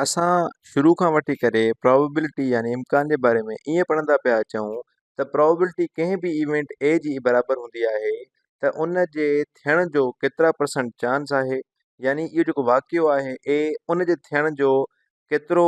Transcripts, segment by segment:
اسان شروع کان وٺي ڪري پرابيبلٽي يعني امڪان جي باري ۾ ائين پڙهندا پيا اچون ته پرابيبلٽي ڪنهن به ايونٽ اي جي برابر هوندي آهي ته ان جي ٿيڻ جو ڪيترا پرسنٽ چانس آهي يعني اهو جيڪو واقعو آهي اي ان جي ٿيڻ جو ڪيترو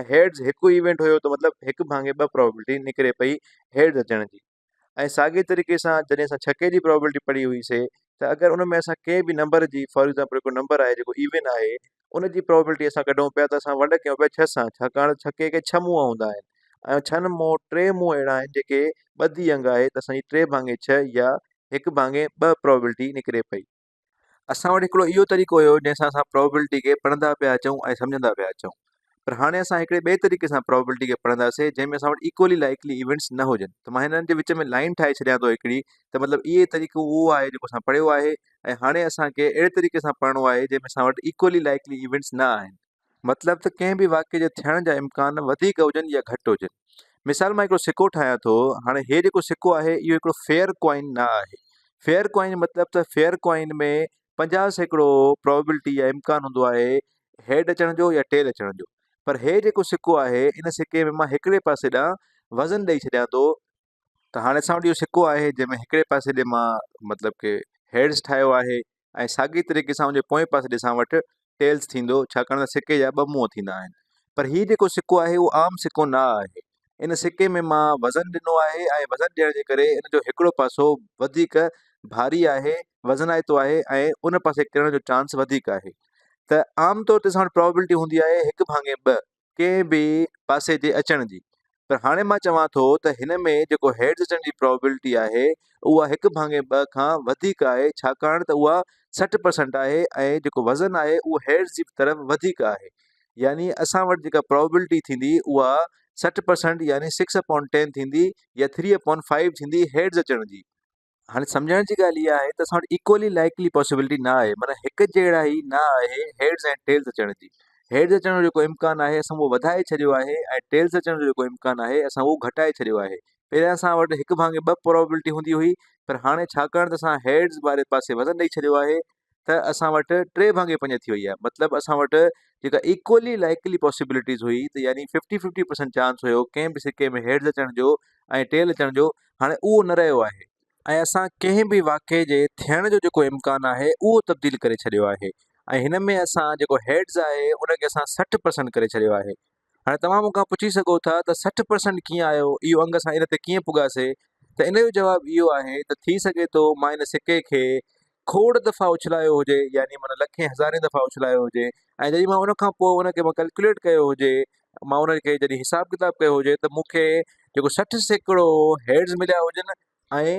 ۽ هيڊز هڪ ايونٽ هيو ته مطلب هڪ ڀاڱي ٻه پرابيلٽي نڪري پئي هيڊز اچڻ جي ۽ ساڳي طريقي سان جڏهن اسان ڇڪي جي پرابيلٽي پڙهي هئي سي ته اگر ان ۾ اسان ڪنهن به نمبر جي فار ايگزامپل هڪ نمبر آهي جيڪو ايون آهي ان جي پرابيلٽي اسان ڪڍون پيا ته اسان ونڊ ڪيون پيا ڇهه سان ڇاڪاڻ ڇڪي کي ڇهه منهن هوندا آهن ۽ ڇهن مون ٽي منهن اهڙا آهن جيڪي ٻڌي انگ آهي ته اسان جي ٽي ڀاڱي ڇهه يا هڪ ڀاڱي ٻه پرابيلٽي نڪري پئي اسان وٽ هڪڙو اهو طريقو هيو جنهن سان اسان پرابيبلٽي کي پڙهندا پيا اچون ۽ سمجهندا پيا اچون پر هاڻي اسان هڪڙي ٻئي طريقي سان پرابيبلٽي کي پڙهنداسين جنهن ۾ اسان وٽ ايڪولي لائيڪلي ايونٽس نه هجن ته مان هنن جي وچ ۾ لائين ٺاهي ڇڏيان ٿو هڪڙي ته مطلب اهي طريقو اهو آهي جيڪو اسان پڙهيو آهي ۽ هاڻي اسان کي اهڙي طريقي سان پڙهڻو آهي جنهن ۾ اسان وٽ ايڪولي لائيڪلي ايونٽس نه آهن مطلب ته ڪنهن به واقعي جي ٿيڻ جا امڪان وڌيڪ هجن يا گهٽ هجن مثال مان هڪڙو سڪو ٺاهيان ٿو هاڻي هي جيڪو سڪو آهي اهو هڪڙو فيئر ڪوائن نه آهي فيئر ڪوائن مطلب ته فيئر ڪوائن ۾ پنجاهه سيڪڙو پرابلٽي يا امڪان هوندو آهي هيڊ اچڻ جو يا ٽيل اچڻ جو پر هي جيڪو سڪو آهي ان سڪي ۾ مان هڪڙي پاسي ڏانهن وزن ڏئي ڇڏيان ٿو ته هاڻي اسان وٽ اهو سڪو آهي جنهن ۾ هڪڙي پاسي ڏي مان مطلب ڪي هيڊز ٺاهيو آهي ۽ ساڳي طريقي سان ان جي پوئين پاسي ڏي اسان وٽ ٽيلز ٿيندو ڇاڪاڻ ته سڪي جا ٻه منهن ٿيندا آهن پر هي جيڪو سڪو آهي اهو عام سڪو نه آهي ان سڪي ۾ مان وزن ڏنو آهي ۽ وزن ڏيڻ جي ڪري ان جو هڪڙو پاسو وڌيڪ ڀاري آهي وزنائتو آهي ۽ ان پاسي ڪرڻ جو چانس وڌيڪ آهي ته عام طور تي اسان وٽ پرابيبلٽي هوندي آهي هڪ ڀاڱي ٻه ڪنهن به پاسي جي اچڻ جي پر هاڻي مان چوان ٿو ته هن ۾ جيڪو هيڊز اچڻ جي پرابيلٽي آهي اها هڪ ڀاڱي ٻه کان وڌيڪ آهي ڇاڪاڻ ته اها سٺ پرسنٽ آهي ۽ جيڪو وزن آهي اهو هيڊز جي طرف وڌيڪ آهي يعني اسان وٽ جيڪا پرابيلٽي ٿيندي اها سٺ پرسنٽ يعني سڪس اپون ٽين ٿيندي يا ٿري اپون فائيو ٿيندي هيڊز اچڻ جي هاڻي سمجهڻ جي ڳالهه اها آهي ته اسان وٽ اڪولي لائيڪلي پاسيبلٽي نه آهي معنيٰ هڪ جهڙا ئي نه آهي هيڊز ۽ ٽيلز اچڻ جي هيڊز اچڻ جو جيڪو امڪان آهي اسان اهو وڌائي ڇڏيو آهي ۽ ٽيلز اچڻ جو جيڪو امڪان آهي اسان اهو گهٽائي ڇڏيو آهي پهريان اسان وٽ هڪ ڀاڱي ٻه پراوبلٽي هوندي هئي پر هاڻي ڇاڪاڻ ته اسان هيڊز واري پاسي وزن ڏئي ڇڏيو آهي ته اسان وٽ ٽي ڀاڱي پنج ٿي وئي آهي مطلب اسان وٽ جيڪا ايڪولي لائيڪلي پاسيبلٽيز هئي ته يعني ففٽي ففٽي پرسنٽ چانس هيو ڪنهن به سڪي ۾ هيڊز اچڻ جو ۽ ٽيل اچڻ جو هاڻي اهو نه رهيو آهي ۽ اسان ڪنهن به واقعي جي ٿيڻ جو جيڪو امڪان آهي اهو تبديل ڪري ڇڏيو آهي ۽ هن ۾ اسان جيڪو هيڊز آهي ان کي اسان سٺ پرسنٽ ڪري ڇڏيو آهي هاڻي توهان مون کان پڇي سگهو ٿا ته سٺ پرسنٽ ڪيئن آيو، اهو انگ اسان ان تي ڪيئن پڳاسي ته ان جو جواب اهو آهي ته ٿي سگهي ٿو مان ان سڪي کي کوڙ دفعا اڇلايو هجي يعني معنيٰ لکين هزارين دفعا اڇلايو هجي ۽ جڏهن مان ان کان پوء ان کي مان ڪلڪيوليٽ ڪيو هجي مان ان کي جڏهن حساب ڪتاب ڪيو هجي ته مون کي جيڪو سٺ سيڪڙو هيڊز مليا هجن ۽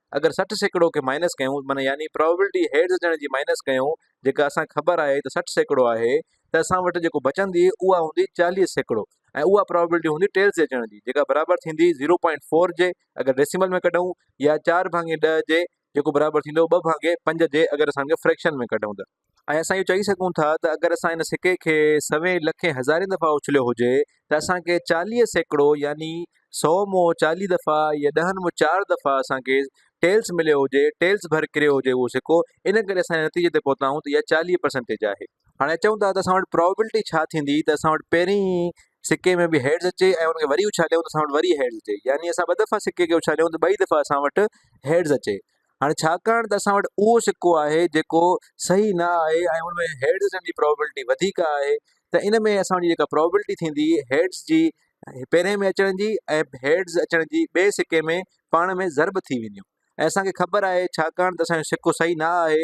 اگر سٺ سيڪڙو کي مائنس ڪيون معنيٰ يعني پرابيبلٽي هيڊز اچڻ جي مائنس ڪيون جيڪا اسان کي خبر آهي ته سٺ سيڪڙو آهي ته اسان وٽ جيڪو بچندي اها هوندي چاليهه سيڪڙو ۽ اها پرابيبلٽي هوندي ٽيلز جي اچڻ جي جيڪا برابر ٿيندي زيرو پوائنٽ فور جي اگر ڊيسيمل ۾ ڪڍون يا چار ڀاڱي ڏهه جي جيڪو برابر ٿيندو ٻه ڀاڱي پنج جي اگر اسان ان کي فريڪشن ۾ ڪڍون ته ۽ اسان اهو چئي سگهون ٿا ته اگر اسان ان سڪي کي سوين، لکين، هزارين دفعا اڇليو هجي ته اسان کي چاليهه سيڪڙو يعني سؤ مون چاليهه دفعا يا ڏهن مون چار دفعا اسان کي ٽيلز مليو هجي، ٽيلز ڀر ڪريو هجي اهو سڪو، ان ڪري اسان ان نتيجي تي پهتا آهيون ته اها چاليهه پرسنٽيج آهي. هاڻي اچون ٿا ته اسان وٽ پرابيبلٽي ڇا ٿيندي ته اسان وٽ پهرين سڪي ۾ به هيڊز اچي ۽ ان کي وري اڇاليون ته اسان وٽ وري هيڊز اچي يعني اسان ٻه دفعا سڪي کي اڇاليون ته ٻئي دفعا اسان وٽ هيڊز اچي هاڻي ڇاڪاڻ ته اسان وٽ اهو سڪو آهي جيڪو صحيح نه آهي ۽ ان ۾ هيڊز ڏيڻ جي پرابيلٽي وڌيڪ آهي ته ان ۾ اسان جي جيڪا پرابيلٽي ٿيندي هيڊز جي پهرين ۾ اچڻ جي ۽ هيڊز اچڻ جي ٻئي سڪي ۾ پاڻ ۾ ضرب ٿي وينديون ۽ اسان کي خبر آهي ڇاڪاڻ ته اسان جو سڪو صحيح نه آهي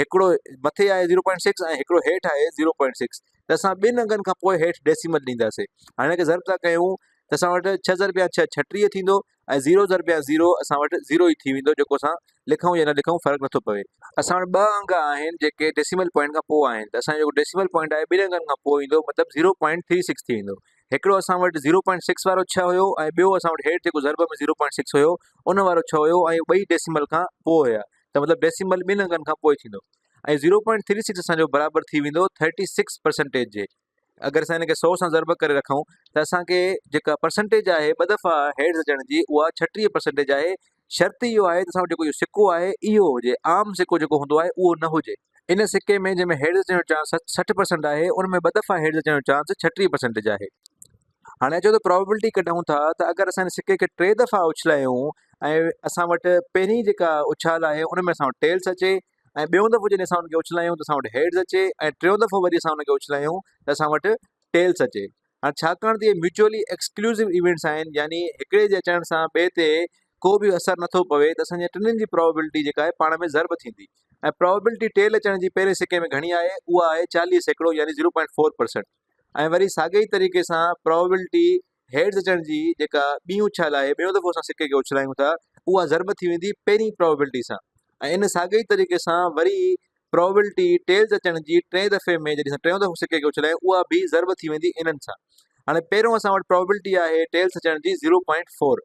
هڪڙو مٿي آهي زيرو پوائنٽ سڪس ۽ هڪڙو هيٺ آهي زيرو پوائنٽ سڪس ته اسان ٻن انگن کان پوء هيٺ ڊيسيمل ڏينداسين هاڻي هن کي ضرب ٿا ڪيون ته اسان وٽ ڇهه ضرب يا ڇهه ڇٽيهه ٿيندو ۽ زيرو ضرب يا زيرو اسان وٽ زيرو ئي ٿي ويندو جيڪو اسان لکون يا نه لکون فرق نٿو پوي اسان وٽ ٻه انگ آهن جيڪي ڊيسيمل پوائنٽ کان پوء آهن ته اسان جو جيڪو ڊيسيمل پوائنٽ آهي ٻن انگن کان پوء ايندو مطلب زيرو پوائنٽ ٿري سڪس ٿي ويندو هڪڙو اسان وٽ زيرو پوائنٽ سڪس وارو ڇهه هيو ۽ ٻيو اسان وٽ هيٺ جيڪو ضرب ۾ زيرو پوائنٽ سڪس هيو ان وارو ڇهه هيو ۽ ٻئي ڊيسيمل کان پوء هيا ته مطلب ڊيسيمل ٻن انگن کان پوء ٿيندو ۽ زيرو پوائنٽ ٿري سڪس اسان جو برابر ٿي ويندو ٿرٽي سڪس پرسنٽيج جي اگر اسان هن کي سو سان ضرب ڪري رکون ته اسان کي جيڪا پرسنٽيج آهي ٻه دفعا هيڊز اچڻ جي اها ڇٽيهه پرسنٽيج آهي شرط اهو آهي ته اسان وٽ جيڪو اهو سڪو آهي اهو هجي عام سڪو جيڪو هوندو آهي اهو نه هجي ان سڪي ۾ جنهن ۾ هيڊز اچڻ جو چانس سٺ پرسنٽ آهي ان ۾ ٻه دفعا هيڊز اچڻ جو چانس ڇٽيهه پرسنٽيج آهي هاڻي اچو ته پرابيبلٽي ڪڍون ٿا ته اگر اسان هن سڪي کي ٽي دفعا اڇلايون ۽ اسان وٽ پهرين جيڪا اڇال آهي ان ۾ اسان وٽ ٽيلس اچي ۽ ٻيون دفعو جڏهن اسان ان کي اڇلايون ته اسان وٽ هيڊز اچي ۽ ٽيون دفعو وري اسان ان کي اڇلايون ته اسان وٽ ٽيلس اچي هاڻي ڇاڪاڻ ته اهي ميوچولي ايڪسڪلوسو ايونٽس آهن يعني هڪڙي جي اچڻ سان ٻئي تي ڪو به اثر نٿو پوي ته اسان جي ٽنن جي پرابيبلٽي جيڪا آهي پاڻ ۾ ضرب ٿيندي ۽ پرابيبلٽي ٽيل اچڻ جي پهرين سڪي ۾ گهڻي آهي اها آهي چاليهه سيڪڙو يعني زيرو پوائنٽ فور پرسنٽ ۽ وري ساڳئي ئي طريقي سان پراوبيلٽي هيڊز اچڻ جي جيڪا ٻي اڇال آهي ٻيو دفعو اسان سڪي کي اڇلايون ٿا اها ضرب ٿي ويندي پهرين پراوبيلٽي سان ۽ ان ساڳئي ئي طريقي سان وري پراوبيلٽي ٽيلز اچڻ جي ٽئين دفعي ۾ جڏهن اسان ٽيون دفعو سڪي کي اڇلايون اها به ضرب ٿي ويندي انهن سان هاڻي پهريون اسان وٽ پراوبيلٽي آهي ٽيلز اچڻ جي زيرو پوائنٽ فور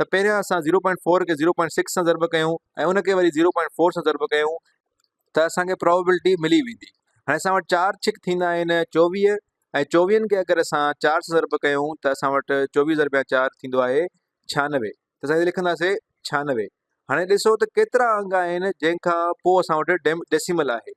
ته پهريان اسان زيرو پوائنٽ فور کي زيرو پوائنٽ سڪس سان ضرب ڪيون ۽ ان کي وري زيرو پوائنٽ فور سان ضرب ڪيون ته اسان کي پراوبيلٽي ملي ويندي. هاڻي اسان وٽ چار ڇڪ ٿيندا آهن چوويهه ۽ چوويهن کي اگر اسان چار سان ضرب ڪيون ته اسان وٽ چوويهه ضربيا چار ٿيندو آهي ڇهانوي ته اسان هتي لکنداسي ڇهانوي. هاڻي ڏسو ته ڪيترا انگ آهن جنهن کان پوء اسان وٽ ڊيسيمل آهي.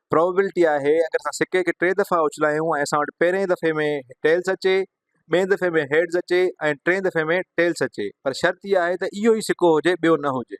Probability آهي اگر اسان سڪي کي ٽي دفعا اڇلايون ۽ اسان وٽ پهرئين دفعي ۾ Tails اچي، ٻئين دفعي ۾ Heads اچي ۽ ٽئين دفعي ۾ Tails اچي پر شرط اها آهي ته اهو ئي سڪو هجي ٻيو نه هجي.